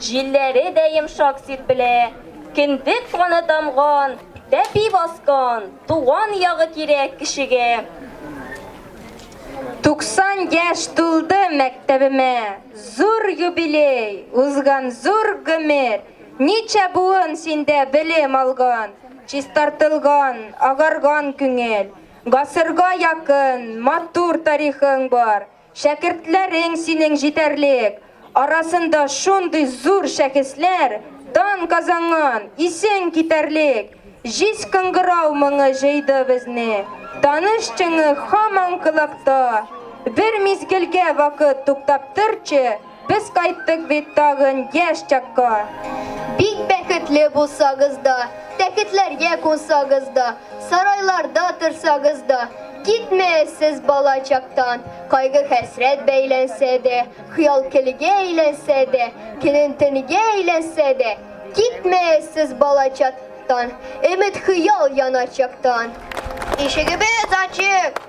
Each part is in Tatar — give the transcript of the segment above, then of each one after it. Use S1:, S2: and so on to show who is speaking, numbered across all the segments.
S1: Җилләре дә йомшак сирпелә, Кендек каны тамган, Тәпи баскан, Туган ягы кирәк кешегә. Туксан яшь тулды мәктәбемә, Зур юбилей, узган зур гомер. Ничә буын синдә белем алган, Чистартылган, агарган күңел. Гасырга якын, матур тарихың бар, Шәкертләрең синең җитәрлек, арасында шундый зур шәхесләр дан казанган, исең китәрлек! Җиз кыңгырау моңы җыйды безне, таныш чыңы хаман колакта. Бер мизгелгә вакыт туктап торчы! Без кайттык бит тагын яшь чакка. Бик бәхетле булсагыз да, тәхетләргә кунсагыз да, сарайларда торсагыз да, китмәгез сез бала чактан. Кайгы-хәсрәт бәйләнсә дә, хыял-көлгә әйләнсә дә, көнен-төнгә әйләнсә дә, китмәгез сез бала чактан, өмет-хыял яна чактан. Ишегебез ачык!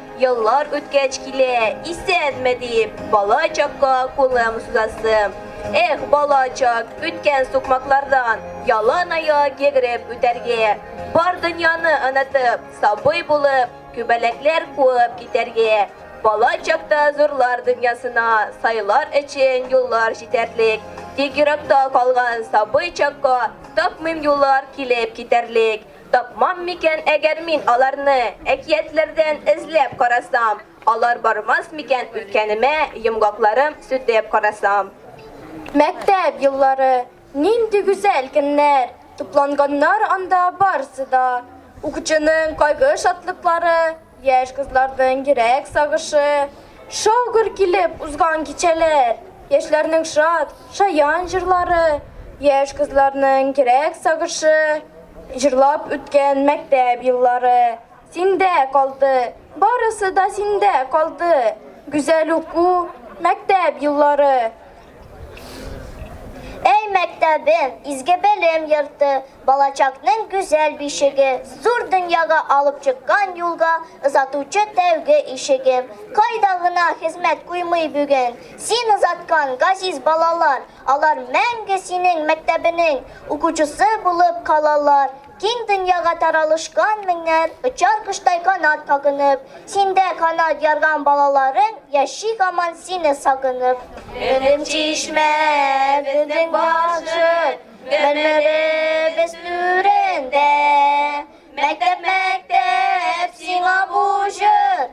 S1: Еллар үткәч килә, исәнме диеп, бала чакка кулым сузасым. Эх, бала чак, үткән сукмаклардан ялан аяк йөгереп үтәргә, бар дөньяны онытып, сабый булып, күбәләкләр куып китәргә. Бала чакта зурлар дөньясына сайлар өчен юллар җитәрлек, тик йөрәктә калган сабый чакка тапмыйм юллар килеп китәрлек. Тапмам микән әгәр мин аларны, Әкиятләрдән эзләп карасам, Алар бармас микән үткәнемә, Йомгакларым сүтеп карасам. Мәктәп еллары, нинди гүзәл көннәр, Тупланганнар анда барсы да, Укучының кайгы-шатлыклары. Яшь кызларның йөрәк сагышы, шау-гөр килеп узган кичәләр, яшьләрнең шат, шаян җырлары, яшь кызларның йөрәк сагышы, җырлап үткән мәктәп еллары. Синдә калды, барысы да синдә калды, гүзәл уку, мәктәп еллары. Әй мәктәбем, изге белем йорты, балачакның гүзәл бишеге, зур дөньяга алып чыккан юлга озатучы тәүге ишегем. Кайда гына хезмәт куймый бүген, син озаткан газиз балалар, алар мәңге синең мәктәбенең укучысы булып калалар. Киң дөньяга таралышкан меңнәр Очар коштай канат кагынып. Синдә канат ярган балаларың Яши гаман сине сагынып. Безнең чишмә, безнең бакча, Мәрмәребез түрендә. Мәктәп, мәктәп, сиңа бу җыр.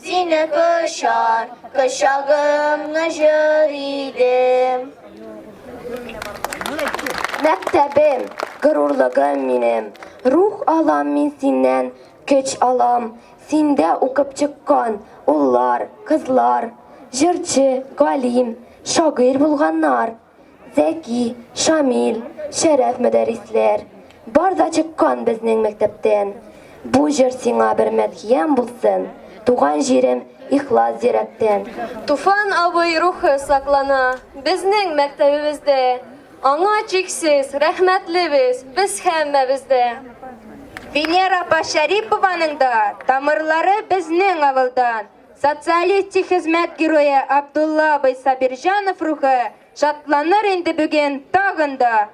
S1: Сине кочар, кочагымны җыр идем. Мәктәбем, горурлыгым минем, рух алам мин синнән, көч алам. Синдә укып чыккан уллар, кызлар, җырчы, галим, шагыйрь булганнар. Зәки, Шамил, Шәрәф мөдәрисләр, бар да чыккан безнең мәктәптән. Бу җыр сиңа бер мәдхиям булсын, туган җирем ихлас йөрәктән. Туфан абый рухы саклана безнең мәктәбебездә. Аңа чиксез рәхмәтлебез без һәммәбез дә. Венера апа Шәрипованың да тамырлары безнең авылдан. Социалистик хезмәт герое Абдулла абый Сабирҗанов рухы шатланыр инде бүген тагын да.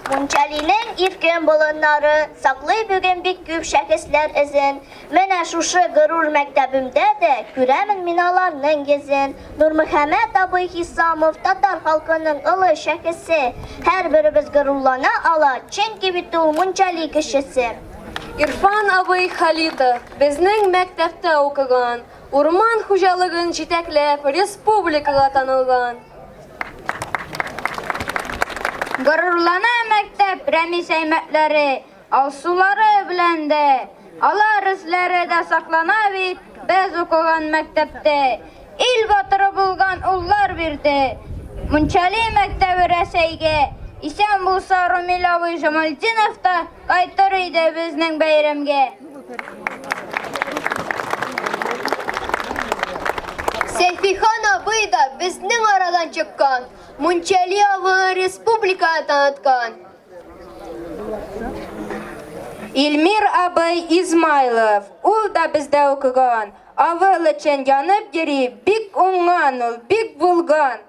S1: Мунчалинең иркен болыннары саклый бүген бик күп шәхесләр эзен. Менә шушы горур мәктәбемдә дә күрәмен мин аларның йөзен. Нурмөхәммәт абый Хисамов татар халкының олы шәхесе. Һәрберебез горурлана ала, чөнки бит ул мунчали кешесе. Ирфан абый Халитов безнең мәктәптә укыган, урман хуҗалыгын җитәкләп, республикага танылган. Горурлана мәктәп Рәмис әймәтләре, алсулары белән дә. Алар эзләре дә саклана бит, без укыган мәктәптә. Ил батыры булган уллар бирде. Мунчали мәктәбе Рәсәйгә, исән булса Румил абый Жамальдинов та Кайтыр иде безнең бәйрәмгә. Сәйфихан абый да безнең арадан чыккан, Мунчали авылы республикага таныткан. Илмир абый Измайлов, ул да бездә укыган, авыл өчен янып йөри, бик уңган ул, бик булган.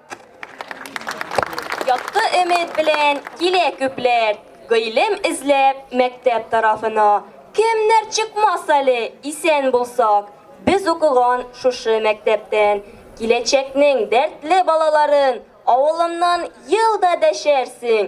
S1: Якты өмет белән килә күпләр, Гыйлем эзләп мәктәп тарафына. Кемнәр чыкмас әле, исән булсак, Без укыган шушы мәктәптән. Киләчәкнең дәртле балаларын Авылымнан ел да дәшәрсең,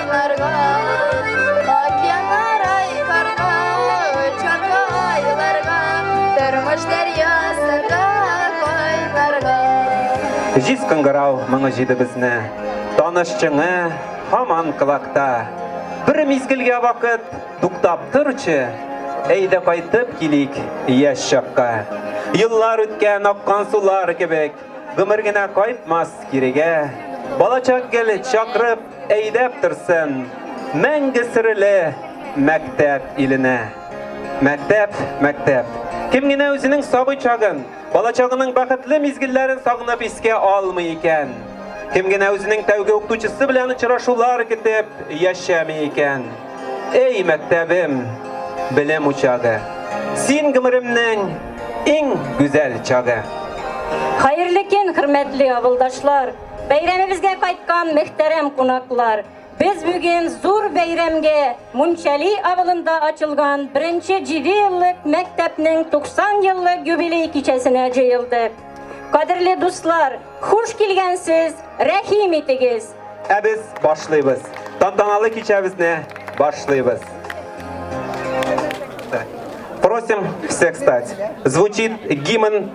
S1: Җиз кыңгырау моңы җиде безне, таныш чыңы һаман кылакта. Бер мизгелгә вакыт туктап торчы, әйдә кайтып килик яшь чакка. Еллар үткән аккан сулар кебек, гомер генә кайтмас кирегә. Балачак гел чакырып Әйдәп торсын мәңге серле мәктәп иленә. Мәктәп, мәктәп. Кем генә үзенең сабый чагын, балачагының бәхетле мизгелләрен сагынып искә алмый икән? Кем генә үзенең тәүге укытучысы белән очрашулар көтеп яшәми икән? Эй, мәктәбем, белем учагы! Син гомеремнең иң гүзәл чагы! Хәерле көн, хөрмәтле авылдашлар! Бәйрәмебезгә кайткан мөхтәрәм кунаклар, без бүген зур бәйрәмгә Мунчали авылында ачылган беренче җидееллык мәктәпнең 90 еллык юбилей кичәсенә җыелдык. Кадерле дуслар, хуш килгәнсез, рәхим итегез! Ә без башлыйбыз. Тантаналы кичәбезне башлыйбыз. Просим всех встать. Звучит гимн.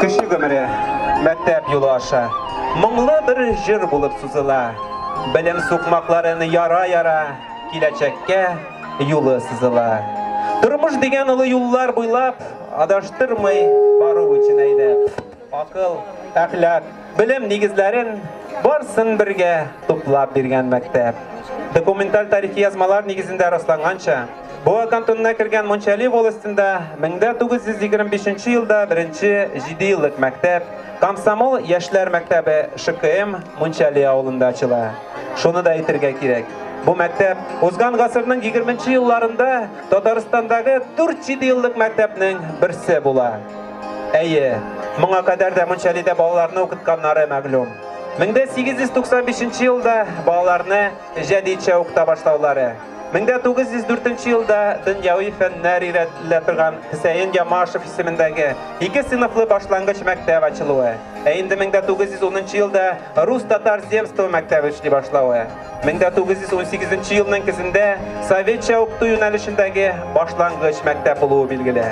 S1: Кеше гомере мәктәп юлы аша моңлы бер җыр булып сузыла. Белем сукмакларын яра-яра киләчәккә юлы сызыла. Тормыш дигән олы юллар буйлап адаштырмый бару өчен әйдәп. Акыл, әхлак, белем нигезләрен барсын бергә туплап биргән мәктәп. Документаль тарихи язмалар нигезендә расланганча, Буа кантонына кергән Мончали волостенда 1925 елда беренче 7 еллык мәктәп Комсомол яшьләр мәктәбе ШКМ Мончали авылында ачыла. Шуны да әйтергә кирәк. Бу мәктәп узган гасырның 20 елларында Татарстандагы 4-7 еллык мәктәпнең берсе була. Әйе, моңа кадәр дә Мунчалидә балаларны укытканнары мәгълүм. 1895 нче елда балаларны җәдидчә укыта башлаулары, 1904 елда дөньяви фәннәр өйрәтелә торган Хөсәен Ямашев исемендәге ике сыйныфлы башлангыч мәктәп ачылуы, ә инде 1910 нчы елда рус-татар земство мәктәбе эшли башлавы, 1918 елның көзендә советча укыту юнәлешендәге башлангыч мәктәп булуы билгеле.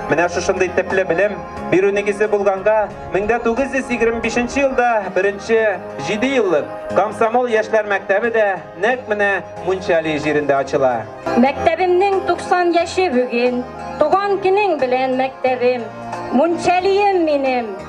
S1: Менә шушындый типле белем бирү нигезе булганга, 1925 елда беренче 7 еллык комсомол яшьләр мәктәбе дә нәкъ менә Мунчали җирендә ачыла. Мәктәбемнең 90 яше бүген, туган көнең белән мәктәбем, Мунчалием минем!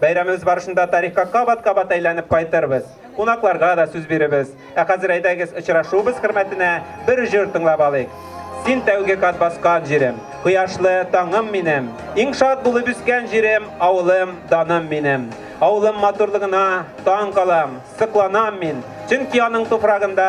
S1: Бәйрәмебез барышында тарихка кабат-кабат әйләнеп кайтырбыз. Кунакларга да сүз биребез. Ә хәзер әйдәгез, очрашуыбыз хөрмәтенә бер җыр тыңлап алыйк. Син тәүге кат баскан җирем, кояшлы таңым минем, иң шат булып үскән җирем, авылым, даным минем. Авылым матурлыгына таң калам, сокланам мин, чөнки аның туфрагында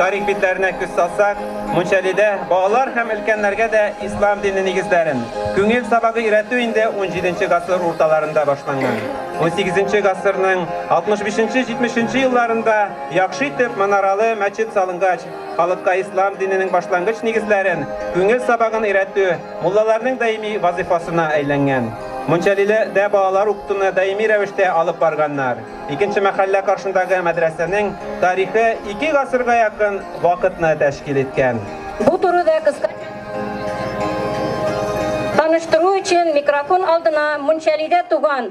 S1: тарих битләренә күз салсак, Мунчалидә балалар һәм өлкәннәргә дә ислам дине нигезләрен, күңел сабагы өйрәтү инде 17 гасыр урталарында башланган. 18 гасырның 65-70 елларында яхшы итеп манаралы мәчет салынгач, Халыкка ислам диненең башлангыч нигезләрен, күңел сабагын өйрәтү муллаларның даими вазыйфасына әйләнгән. Мунчалиле дә балалар укытуны даими рәвештә алып барганнар. Икенче мәхәллә каршындагы мәдрәсәнең тарихы ике гасырга якын вакытны тәшкил иткән. Бу турыда кыска Таныштыру өчен микрофон алдына Мунчалидә туган,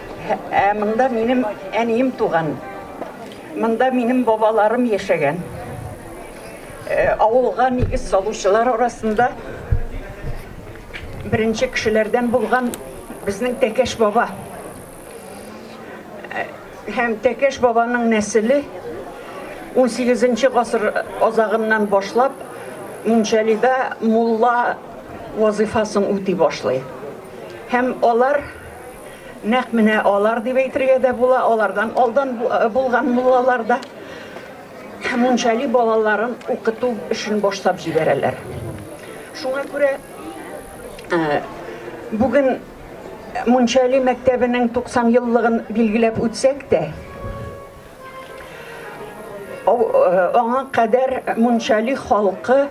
S1: Ә монда минем әнием туган. Монда минем бабаларым яшәгән. Э, авылга нигез салучылар арасында беренче кешеләрдән булган безнең Тәкәш баба. Э, һәм Тәкәш бабаның нәселе 18 гасыр азагыннан башлап Мунчалида мулла вазифасын үти башлый. Һәм алар Нәкъ менә алар дип әйтергә дә була, алардан алдан булган муллалар да мунчали балаларын укыту эшен башлап җибәрәләр. Шуңа күрә э, бүген мунчали мәктәбенең 90 еллыгын билгеләп үтсәк тә, Аңа кадәр Мунчали халкы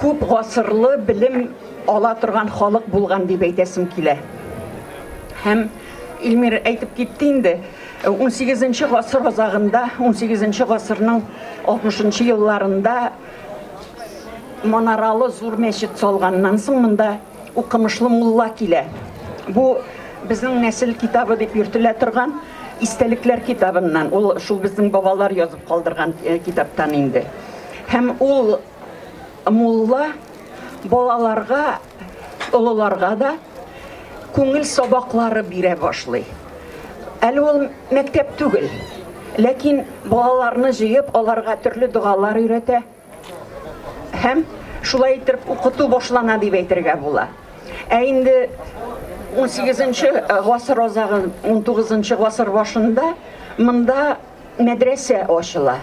S1: күп гасырлы белем ала торган халык булган дип әйтәсем килә. Һәм Илмир әйтеп китте инде, 18 гасыр азагында, 18 гасырның 60 елларында манаралы зур мәчет салганнан соң монда Укымышлы мулла килә. Бу безнең нәсел китабы дип йөртелә торган истәлекләр китабыннан. Ул шул безнең бабалар язып калдырган э, китаптан инде. Һәм ул мулла балаларга, олыларга да күңел сабаклары бирә башлый. Әле ул мәктәп түгел, ләкин балаларны җыеп, аларга төрле догалар өйрәтә. Һәм шулай итеп укыту башлана дип әйтергә була. Ә инде 18-нче гасыр азагы, 19-нчы гасыр башында монда мәдрәсә ачыла.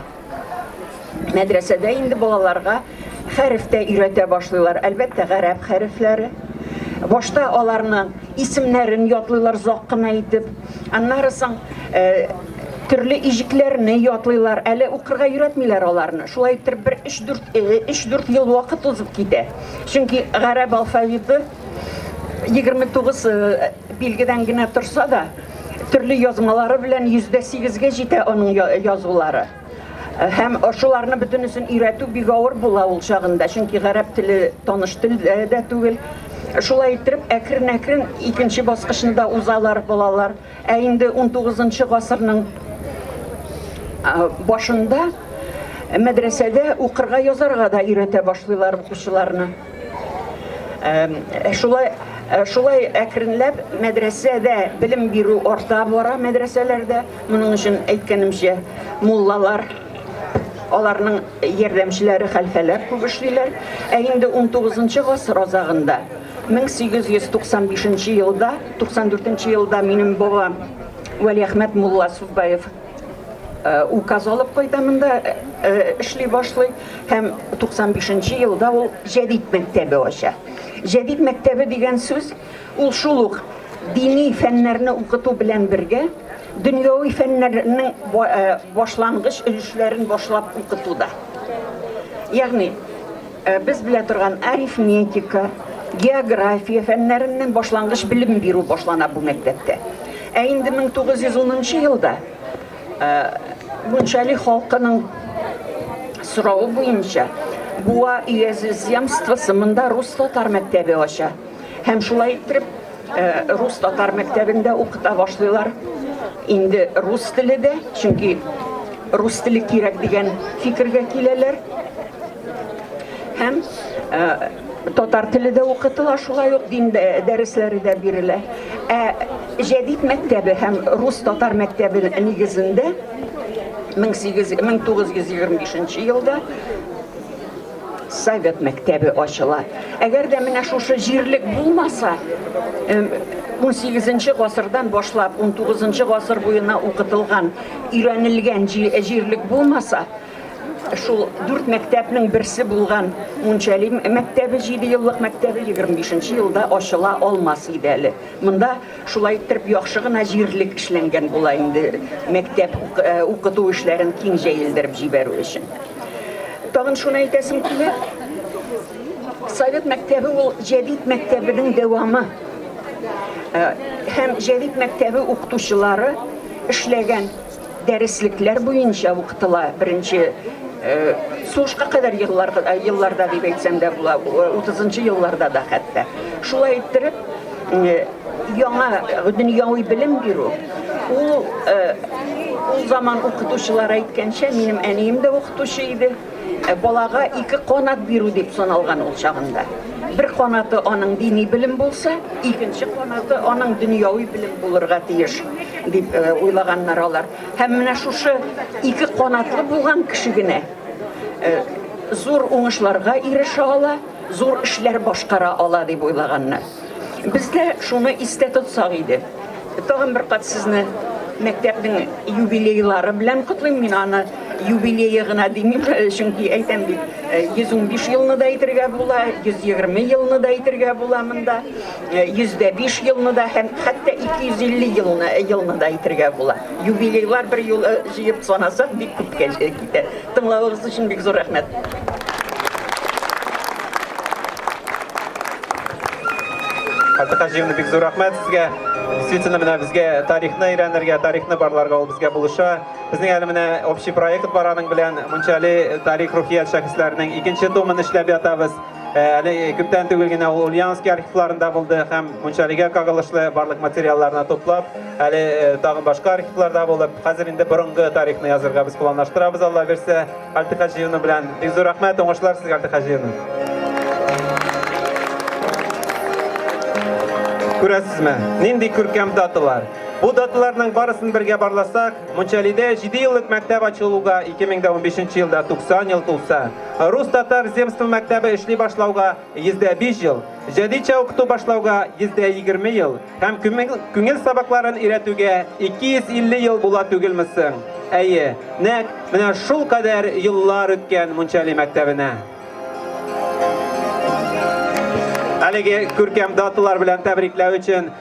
S1: Мәдрәсәдә инде балаларга хәреф тә өйрәтә башлыйлар, әлбәттә, гарәп хәрефләре. Башта аларны исемнәрен ятлыйлар зак кына итеп, аннары соң Төрле иҗекләрне ятлыйлар, әле укырга өйрәтмиләр аларны. Шулай иттереп бер 3-4 ел вакыт узып китә. Чөнки гарәп алфавиты 29 билгедән генә торса да, төрле язмалары белән 108 ге җитә аның язулары. Һәм шуларны бөтенесен өйрәтү бик авыр була ул чагында, чөнки гарәп теле таныш тел дә түгел. Шулай иттереп әкрен-әкрен икенче баскычны да узалар балалар. Ә инде 19 гасырның башында мәдрәсәдә укырга язарга да өйрәтә башлыйлар укучыларны. Шулай шулай әкренләп мәдрәсәдә белем бирү арта бара мәдрәсәләрдә. Моның өчен әйткәнемчә, муллалар аларның ярдәмчеләре хәлфәләр күп эшлиләр. Ә инде 19 гасыр азагында 1895 нче елда, 94 нче елда минем бабам Вәлиәхмәт мулла Суббаев э, указ алып кайта монда э, э, эшли башлый һәм 95 нче елда ул җәдид мәктәбе ача. Җәдид мәктәбе дигән сүз ул шул ук дини фәннәрне укыту белән бергә дөньяви фәннәрнең башлангыч өлешләрен башлап укытуда. Ягъни Без белә торган арифметика, география фәннәреннән башлангыч белем бирү башлана бу мәктәптә. Ә инде 1910 нчы елда Мунчали халкының соравы буенча Буа өязе земствосы монда рус-татар мәктәбе ача һәм шулай иттереп Рус-татар мәктәбендә укыта башлыйлар. Инде рус теле дә, чөнки рус теле кирәк дигән фикергә киләләр. Һәм татар теле дә укытыла, шулай ук дин дәресләре дә бирелә. Ә җәдит мәктәбе һәм рус-татар мәктәбе нигезендә 1925 елда Совет мәктәбе ачыла. Әгәр дә менә шушы җирлек булмаса, 18 гасырдан башлап 19 гасыр буена укытылган, өйрәнелгән җирлек булмаса, шул дүрт мәктәпнең берсе булган Мунчали мәктәбе 7 еллык мәктәбе 25 елда ачыла алмас иде әле. Монда Шулай иттереп яхшы гына җирлек эшләнгән була инде мәктәп укыту эшләрен киң җәелдереп җибәрү өчен. Тагын шуны әйтәсем килә. Совет мәктәбе ул җәдит мәктәбенең дәвамы. Һәм җәдит мәктәбе укытучылары эшләгән Дәреслекләр буенча укытыла. Беренче сугышка кадәр елларда, елларда дип әйтсәм дә була, 30 елларда да хәтта. Шулай иттереп, яңа дөньяви белем бирү, ул ул заман укытучылары әйткәнчә, минем әнием дә укытучы иде. Ә балага ике канат бирү дип саналган ул чагында. Бер канаты аның дини белем булса, икенче канаты аның дөньяви белем булырга тиеш дип э, уйлаганнар алар. Һәм менә шушы ике канатлы булган кеше генә э, зур уңышларга ирешә ала. Зур эшләр башкара ала дип уйлаганнар. Без дә шуны истә тотсак иде. Тагын бер кат сезне мәктәпнең юбилейлары белән котлыйм. Мин аны юбилее гына димим, чөнки әйтәм бит, 115 э, елны да әйтергә була, 120 елны да әйтергә була монда, 105 э, елны да һәм хәтта 250 елны, елны да әйтергә була. Юбилейлар бер юлы э, җыеп санасак бик күпкә китә. Тыңлавыгыз өчен бик зур рәхмәт. Хәтта җыйны бик зур рәхмәт сезгә. Действительно, менә безгә тарихны өйрәнергә, тарихны барларга ул безгә булыша. Безнең әле менә общий проект бар аның белән Мунчали тарих рухият шәхесләренең икенче томын эшләп ятабыз. Әле күптән түгел генә ул Ульяновский архивларында булды һәм Мунчалигә кагылышлы барлык материалларны туплап, әле тагын башка архивларда булып, хәзер инде борынгы тарихны язырга без планлаштырабыз, Алла бирсә, Альтык Хаҗиевна белән. Бик зур рәхмәт, уңышлар сезгә, Альтык Хаҗиевна. Күрәсезме, нинди күркәм даталар. Бу даталарның барысын бергә барласак, Мунчалидә 7 еллык мәктәп ачылуга 2015 елда 90 ел тулса, Рус-татар земство мәктәбе эшли башлауга 105 ел, җәдитчә укыту башлауга 120 ел һәм күңел сабакларын өйрәтүгә 250 ел була түгелме соң? Әйе, нәк менә шул кадәр еллар үткән Мунчали мәктәбенә. Әлеге күркәм даталар белән тәбрикләү өчен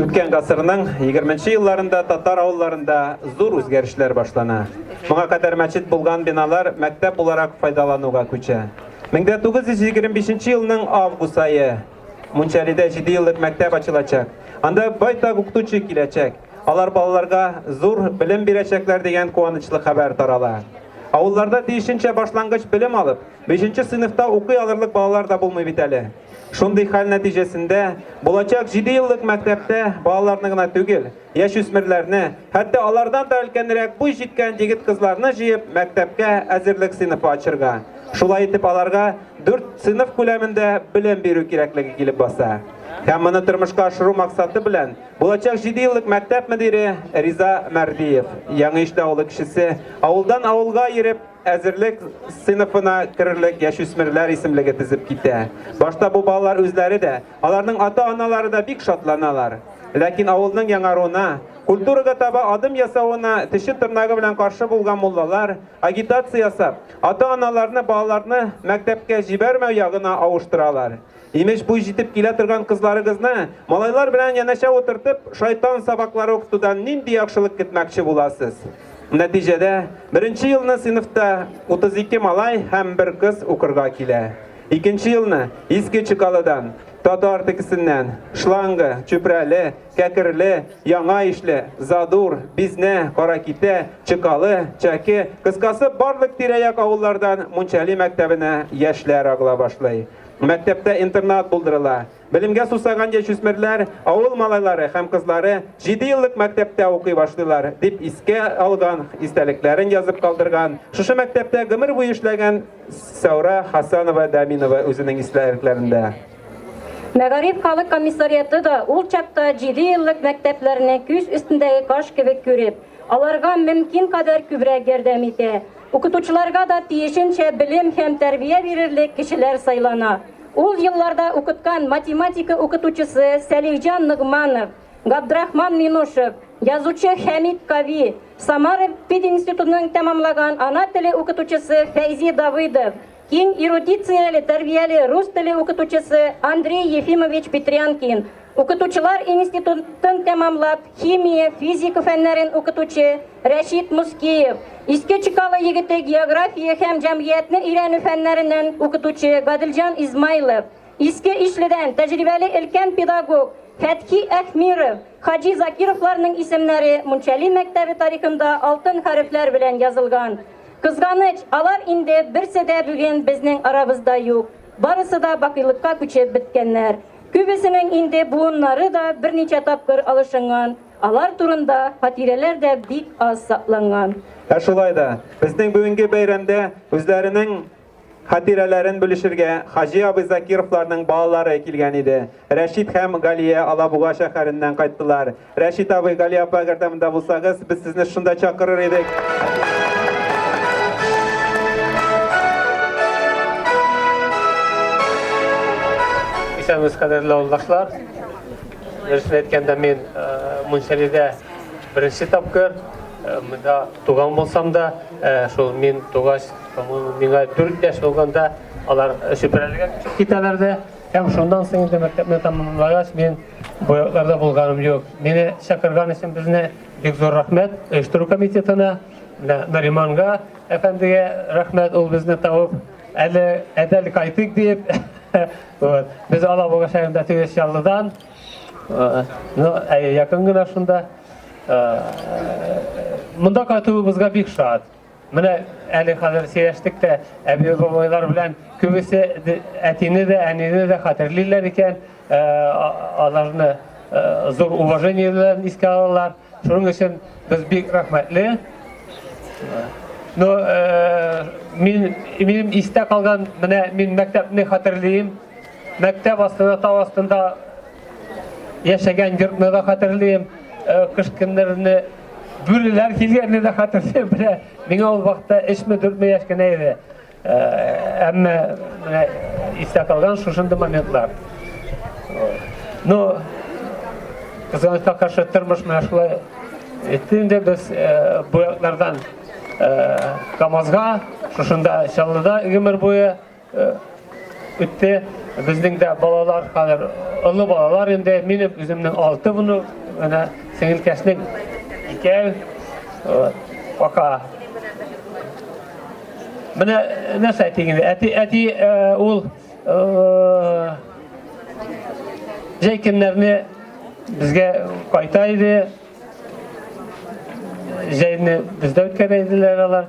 S1: Үткән гасырның 20-нче елларында татар авылларында зур үзгәрешләр башлана. Моңа кадәр мәчет булган биналар мәктәп буларак файдалануга күчә. 1925 елның август айы Мунчалида 7 еллык мәктәп ачылачак. Анда байтак укытучы киләчәк. Алар балаларга зур белем бирәчәкләр дигән куанычлы хәбәр тарала. Авылларда тиешенчә башлангыч белем алып, 5 сыйныфта укый алырлык балалар да булмый бит әле. Шундый хәл нәтиҗәсендә булачак 7 еллык мәктәптә балаларны гына түгел, Яшүсмерләрне, хәтта алардан да өлкәнрәк буй җиткән егет-кызларны җыеп мәктәпкә әзерлек сыйныфы ачырга, шулай итеп аларга дүрт сыйныф күләмендә белем бирү кирәклеге килеп баса. Һәм моны тормышка ашыру максаты белән булачак җиде еллык мәктәп мөдире Риза Мәрдиев, Яңа Иште авылы кешесе, авылдан авылга йөреп әзерлек сыйныфына керерлек яшүсмерләр исемлеге тезеп китә. Башта бу балалар үзләре дә Аларның ата-аналары да бик шатланалар. Ләкин авылның яңаруына, культурага таба адым ясавына теше тырнагы белән каршы булган муллалар агитация ясап, ата-аналарны балаларны мәктәпкә җибәрмәү ягына авыштыралар. Имеш буй җитеп килә торган кызларыгызны малайлар белән янәшә утыртып, шайтан сабаклары укытудан нинди яхшылык көтмәкче буласыз? Нәтиҗәдә, беренче елны сыйныфта 32 малай һәм бер кыз укырга килә. Икенче елны Иске Чекалыдан, татар текесеннән, Шланга, Чүпрәле, Кәкерле, Яңа Ишле, Задур, Бизнә, Каракитә, Чекалы, Чәке, кыскасы, барлык тирә-як авыллардан Мунчали мәктәбенә яшьләр агыла башлый. Мәктәптә интернат булдырыла, Белемгә сусаган яшүсмерләр, авыл малайлары һәм кызлары җиде еллык мәктәптә укый башлыйлар, дип искә алган, истәлекләрен язып калдырган, шушы мәктәптә гомер буе эшләгән Сәүра Хасанова-Дәминова үзенең истәлекләрендә. Мәгариф халык комиссариаты да ул чакта җиде еллык мәктәпләрне күз өстендәге каш кебек күреп, аларга мөмкин кадәр күбрәк ярдәм итә. Укытучыларга да тиешенчә белем һәм тәрбия бирерлек кешеләр сайлана. Ул елларда укыткан математика укытучысы Сәлихҗан Ногманов, Габдрахман Минушев, язучы Хәмит Кави, Самара пединститутын тәмамлаган ана теле укытучысы Фәйзи Давыдов, киң эрудицияле, тәрбияле рус теле укытучысы Андрей Ефимович Петрянкин, Укытучылар институтын тәмамлап, химия, физика фәннәрен укытучы Рәшит Мускиев, Иске Чекалы егете география һәм җәмгыятьне өйрәнү фәннәреннән укытучы Гадилҗан Измайлов, Иске Ишледән тәҗрибәле өлкән педагог Фәтхи Әхмиров, Хаҗи Закировларның исемнәре Мунчали мәктәбе тарихында алтын хәрефләр белән язылган. Кызганыч, алар инде берсе дә бүген безнең арабызда юк. Барысы да бакыйлыкка күчеп беткәннәр. Күбесенең инде буыннары да берничә тапкыр алышынган, алар турында хатирәләр дә бик аз сакланган. Ә шулай да, безнең бүгенге бәйрәмдә үзләренең хатирәләрен бүлешергә Хаҗи абый Закировларның балалары килгән иде. Рәшит һәм Галия Алабуга шәһәреннән кайттылар. Рәшит абый, Гали апа, әгәр дә монда булсагыз, без сезне шунда чакырыр идек. Исәнмез, кадерле авылдашлар. Дөресен әйткәндә, мин Мунчалидә беренче тапкыр монда туган булсам да, шул мин тугач, миңа 4 яшь булганда алар Чүпрәлегә китәләр дә, һәм шуннан соң инде мәктәпне тәмамлагач, мин Бу якларда булганым юк. Мине чакырган өчен безне бик зур рәхмәт оештыру комитетына, Нариманга әфәндегә рәхмәт, ул безне табып, әле әдәл кайтыйк дип. Вот. Без Алабуга шәһәрендә тигез яллыдан. Ну, якын гына шунда. Монда кайтуыбызга бик шат. Менә әле хәзер сөйләштек тә әби-бабайлар белән күбесе әтине дә, әнине дә хәтерлиләр икән, э, аларны э, зур уважение белән искә алалар. Шуның өчен без бик рәхмәтле. Но э, мин минем истә калган менә мин мәктәпне хәтерлим. Мәктәп астында тау астында яшәгән йортны да хәтерлим. Кыш көннәрне Бүреләр килгәнне дә хәтерлим, менә миңа ул вакытта эшме дүртме яшь кенә иде. Э, әмма менә истә калган шушындый моментлар. Ну, кызганычка каршы тормыш менә шулай итте инде без э, бу яклардан э, КАМАЗга, шушында Чаллыда гомер буе үтте. Безнең дә балалар хәзер олы балалар инде. Минем үземнең алты буны, менә сеңелкәшнең икәү. Пока. Менә нәрсә әйтегез? Әти, әти ул җәй көннәрне безгә кайта иде. Җәйне бездә үткәрә иделәр алар.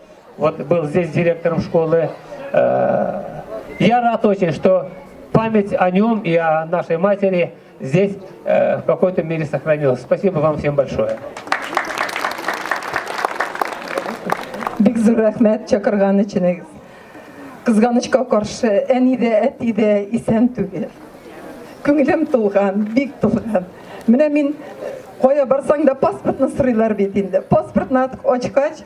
S1: Вот был здесь директором школы. Э, я рад очень, что память о нем и о нашей матери здесь э, в какой-то мере сохранилась. Спасибо вам всем большое. Бик зур рәхмәт чакырган өчен. Кызганычка каршы, әни дә, әти дә исән түгел. Күңелем тулган, бик тулган. Менә мин кая барсаң да паспортны сорыйлар бит инде. Паспортны ачкач,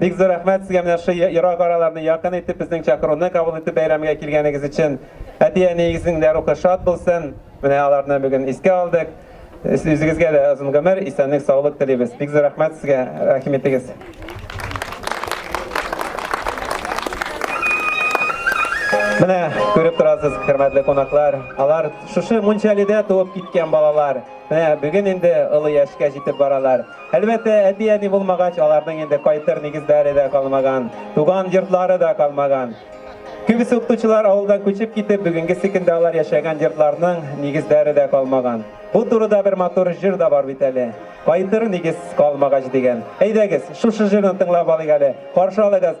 S1: Бик зур рәхмәт сезгә менә шул ерак араларны якын итеп, безнең чакыруны кабул итеп бәйрәмгә килгәнегез өчен. Әти-әниегезнең дә рухы шат булсын. Менә аларны бүген искә алдык. Үзегезгә дә озын гомер, исәнлек, саулык телибез. Бик зур рәхмәт сезгә, рәхим итегез. Менә күреп торасыз, хөрмәтле кунаклар, алар шушы Мунчалидә туып киткән балалар. Менә бүген инде олы яшькә җитеп баралар. Әлбәттә, әти-әни булмагач, аларның инде кайтыр нигезләре дә калмаган, туган йортлары да калмаган. Күбесе укытучылар авылдан күчеп китеп, бүгенгесе көндә алар яшәгән йортларның нигезләре дә калмаган. Бу турыда бер матур җыр да бар бит әле. Кайтыр нигез калмагач дигән. Әйдәгез, шушы җырны тыңлап алыйк әле. Каршы алыгыз.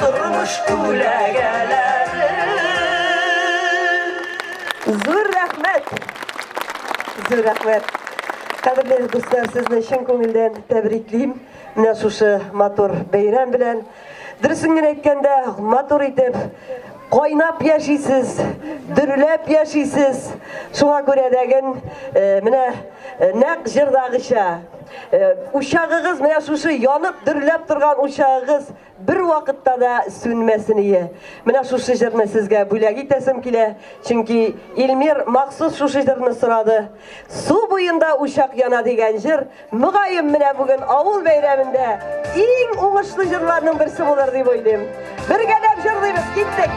S1: Тормыш күләгәләре. Зур рәхмәт! Зур рәхмәт! Кадерле дуслар, сезне чын күңелдән тәбриклим. Менә шушы матур бәйрәм белән. Дөресен генә әйткәндә, матур итеп кайнап яшисез, дөрләп яшисез. Шуңа күрә дәген э, менә э, нәкъ җырдагыча э, учагыгыз менә шушы янып дөрләп торган учагыгыз Бер вакытта да сүнмәсен ие. Менә шушы җырны сезгә бүләк итәсем килә, чөнки Илмир махсус шушы җырны сорады. Су буенда учак яна дигән җыр, мөгаен менә бүген авыл бәйрәмендә иң уңышлы җырларның берсе булыр дип уйлыйм. Бергәләп җырлыйбыз, киттек!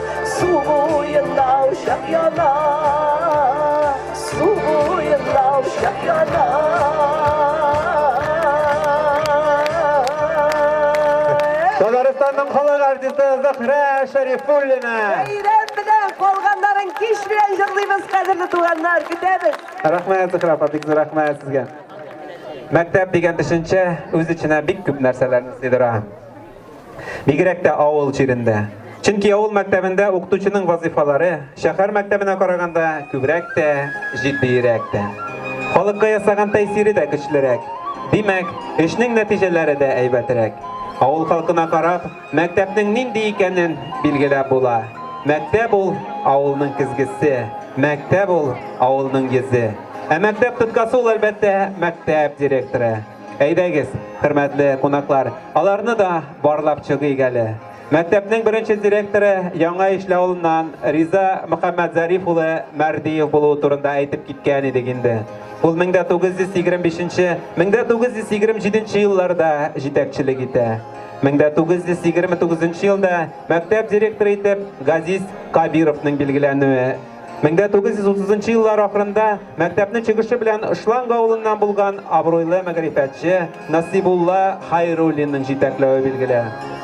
S1: Зөһрә Шәрифуллина. Бәйрәм белән калганнарын кич белән җырлыйбыз, кадерле туганнар, көтәбез. Рәхмәт, Зөһрә апа, бик зур рәхмәт сезгә. Мәктәп дигән төшенчә үз эченә бик күп нәрсәләрне сыйдыра. Бигрәк тә авыл җирендә. Чөнки авыл мәктәбендә укытучының вазыйфалары шәһәр мәктәбенә караганда күбрәк тә, җитдиерәк тә. Халыкка ясаган тәэсире дә көчлерәк. Димәк, эшнең нәтиҗәләре дә әйбәтрәк. Авыл халкына карап, мәктәпнең нинди икәнен билгеләп була. Мәктәп ул авылның көзгесе, мәктәп ул авылның йөзе. Ә мәктәп тоткасы ул, әлбәттә, мәктәп директоры. Әйдәгез, хөрмәтле кунаклар, аларны да барлап чыгыйк әле. Мәктәпнең беренче директоры Яңа Ишле авылыннан Риза Мөхәммәтзариф улы Мәрдиев булуы турында әйтеп киткән идек инде. Ул 1925-1927 елларда җитәкчелек итә. 1929 елда мәктәп директоры итеп Газиз Кабировның билгеләнүе 1930 нчы еллар ахырында мәктәпнең чыгышы белән Ышланг авылыннан булган абруйлы мәгърифәтче Насибулла Хайруллинның җитәкләве билгеле.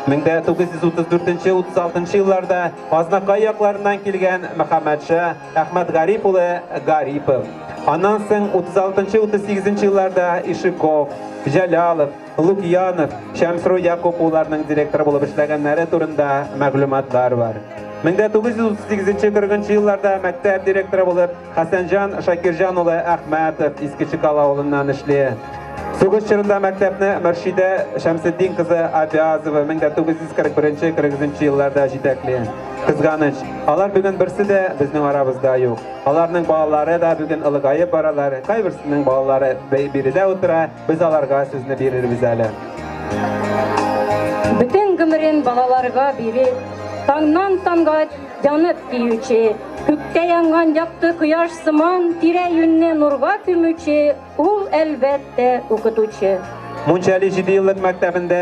S1: 1934-36 елларда Азнакай якларыннан килгән Мөхәммәдша Әхмәтгариф улы Гарипов. Аннан соң 36-38 елларда Ишиков, Җәлалов, Лукьянов, Шәмсру Якуп улларының директор булып эшләгәннәре турында мәгълүматлар бар. 1938-40 елларда мәктәп директоры булып Хәсәнҗан Шакирҗан улы Әхмәтов Иске Чекал авылыннан эшли. Сугыш чорында мәктәпне Мөршидә Шәмсетдин кызы Абязова 1941-43 елларда җитәкли. Кызганыч, алар бүген берсе дә безнең арабызда юк. Аларның балалары да бүген ылыгаеп баралар. Кайберсенең балалары биредә утыра, Без аларга сүзне бирербез әле. Бөтен гомерен балаларга биреп, таңнан таңга янып киюче, күктә янган якты кояш сыман тирә-юньне нурга күмүче ул, әлбәттә, укытучы. Мунчали җидееллык мәктәбендә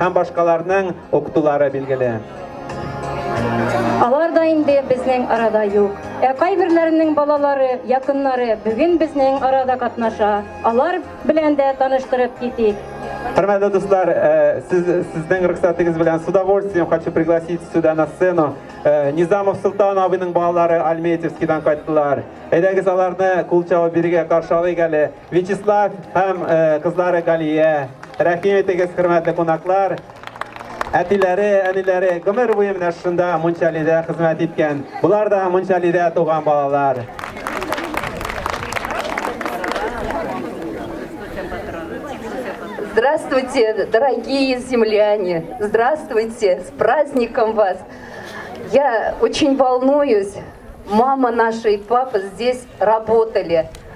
S1: һәм башкаларның укытулары билгеле. Алар да инде безнең арада юк. Ә кайберләренең балалары, якыннары бүген безнең арада катнаша. Алар белән дә таныштырып китик. Хөрмәтле дуслар, э, сез, сезнең рөхсәтегез белән с удовольствием хочу пригласить сюда на сцену э, Низамов Султан абыйның балалары Альметьевскийдан кайттылар. Әйдәгез аларны кул чабып бирегә каршы алыйк әле. Вячеслав һәм кызлары Галия, рәхим итегез, хөрмәтле кунаклар. Әтиләре, әниләре гомер буе менә шунда Мунчалидә хезмәт иткән. Булар да Мунчалидә туган балалар. Здравствуйте, дорогие земляне! Здравствуйте! С праздником вас! Я очень волнуюсь. Мама наша и папа здесь работали.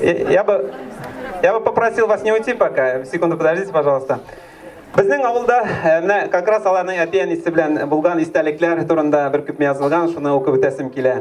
S1: Я бы, я бы попросил вас не уйти пока. Секунду подождите, пожалуйста. Безнең авылда э, менә как раз аларның әтиән исе белән булган истәлекләр турында бер күпме язылган, шуны укып үтәсем килә.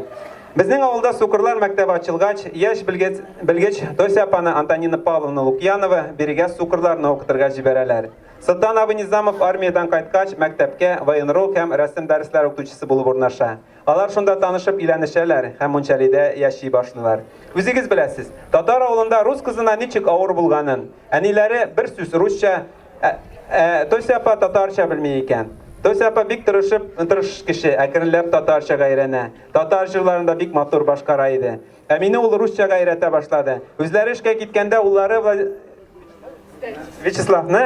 S1: Безнең авылда сукырлар мәктәбе ачылгач, яшь белгеч, белгеч Тося апаны Антонина Павловна Лукьянова бирегә сукырларны укытырга җибәрәләр. Сылтан абый Низамов армиядән кайткач, мәктәпкә военрук һәм рәсем дәресләре укытучысы булып урнаша. Алар шунда танышып өйләнешәләр һәм Мунчалидә яши башлыйлар. Үзегез беләсез, татар авылында рус кызына ничек авыр булганын. Әниләре бер сүз русча, ә, ә Тося апа татарча белми икән. Тося апа бик тырышып, тырыш кеше, әкренләп татарчага өйрәнә. Татар җырларын да бик матур башкара иде. Ә мине ул русчага өйрәтә башлады. Үзләре эшкә киткәндә уллары Вячеславны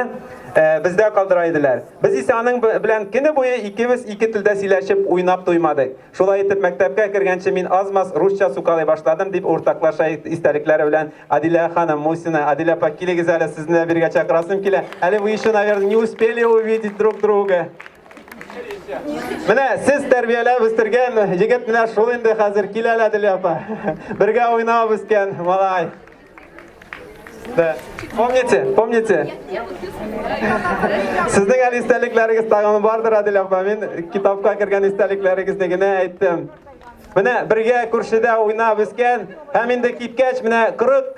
S1: э, бездә калдыра иделәр. Без исә аның белән көне буе икебез ике телдә сөйләшеп, уйнап туймадык. Шулай итеп, мәктәпкә кергәнче мин азмас русча сукалый башладым, дип уртаклаша истәлекләре белән Адилә ханым Мусина. Адилә апа, килегез әле, сезне дә бергә чакырасым килә. Әле вы еще, наверное, не успели увидеть друг друга. Менә сез тәрбияләп үстергән егет менә шул инде хәзер килә лә Дилә апа. Бергә уйнап үскән малай. Да. Помните, помните? Сезнең әле истәлекләрегез тагын бардыр, Адил апа. Мин китапка кергән истәлекләрегезне генә әйттем. Менә бергә күршедә уйнап үскән һәм инде киткәч менә 40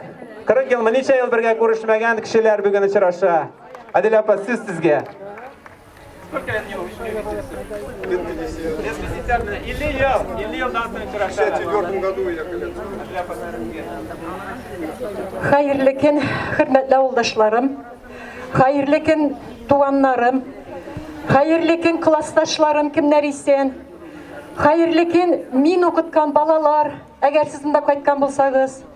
S1: 40 елмы ничә ел бергә күрешмәгән кешеләр бүген очраша. Адил апа, сез сезгә. Сколько я не увиделся? Лет 50. Лет 50, да. Или я, или я дан соң В 64 году я колец. Хәерле көн, хөрмәтле авылдашларым. Хәерле көн, туганнарым. Хәерле көн, классташларым, кемнәр исән? Хәерле көн, мин укыткан балалар, әгәр сез монда кайткан булсагыз.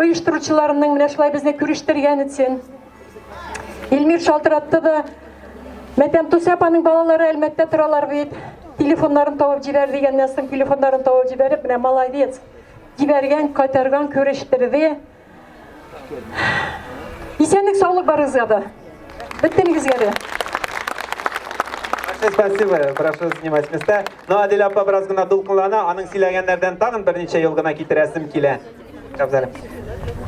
S1: оештыручыларының менә шулай безне күрештергән өчен. Илмир шалтыратты да, Мәтәм Тусәп аның балалары Әлмәттә торалар бит. Телефоннарын табып җибәр дигәннән соң телефоннарын табып җибәреп, менә молодец. Җибәргән, кайтарган, күрештерде. Исәнлек саулык барыгызга да. Бөтенегезгә дә. Большое спасибо. Прошу занимать места. Но ну, Адель апа бераз гына дулкынлана, аның сөйләгәннәрдән тагын берничә ел гына китерәсем килә. Әфзәлем.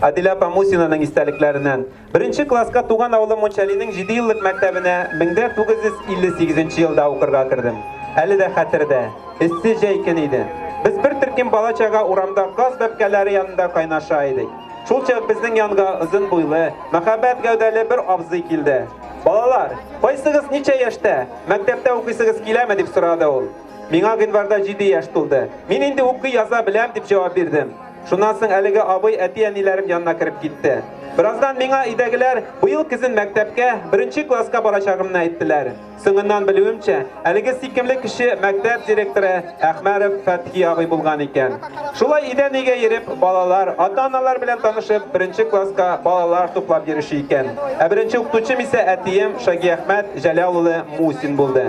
S1: Адилә апа Мусинаның истәлекләреннән. Беренче класска туган авылым Мунчалинең 7 еллык мәктәбенә 1958 елда укырга кердем. Әле дә хәтердә. Эссе җәй көн иде. Без бер төркем бала чага урамда газ бәпкәләре янында кайнаша идек. Шул чак безнең янга озын буйлы, мәхәббәт гәүдәле бер абзый килде. Балалар, кайсыгыз ничә яшьтә? Мәктәптә укыйсыгыз киләме дип сорады ул. Миңа гыйнварда җиде яшь тулды. Мин инде укый-яза беләм, дип җавап бирдем. Шуннан соң әлеге абый әти-әниләрем янына кереп китте. Бераздан миңа өйдәгеләр быел көзен мәктәпкә, беренче класска барачагымны әйттеләр. Соңыннан белүемчә, әлеге сөйкемле кеше мәктәп директоры Әхмәров Фәтхи абый булган икән. Шулай өйдән-өйгә йөреп, балалар, ата-аналар белән танышып, беренче класска балалар туплап йөрүче икән. Ә беренче укытучым исә әтием Шагиәхмәт Җәләл улы Мусин булды.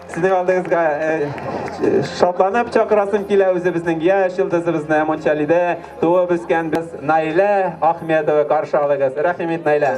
S1: Сезнең алдыгызга шатланып чакырасым килә үзебезнең яшь йолдызыбызны Амончалидә туып үскән без Наилә Ахмедова каршы алыгыз. Рәхимит Наилә.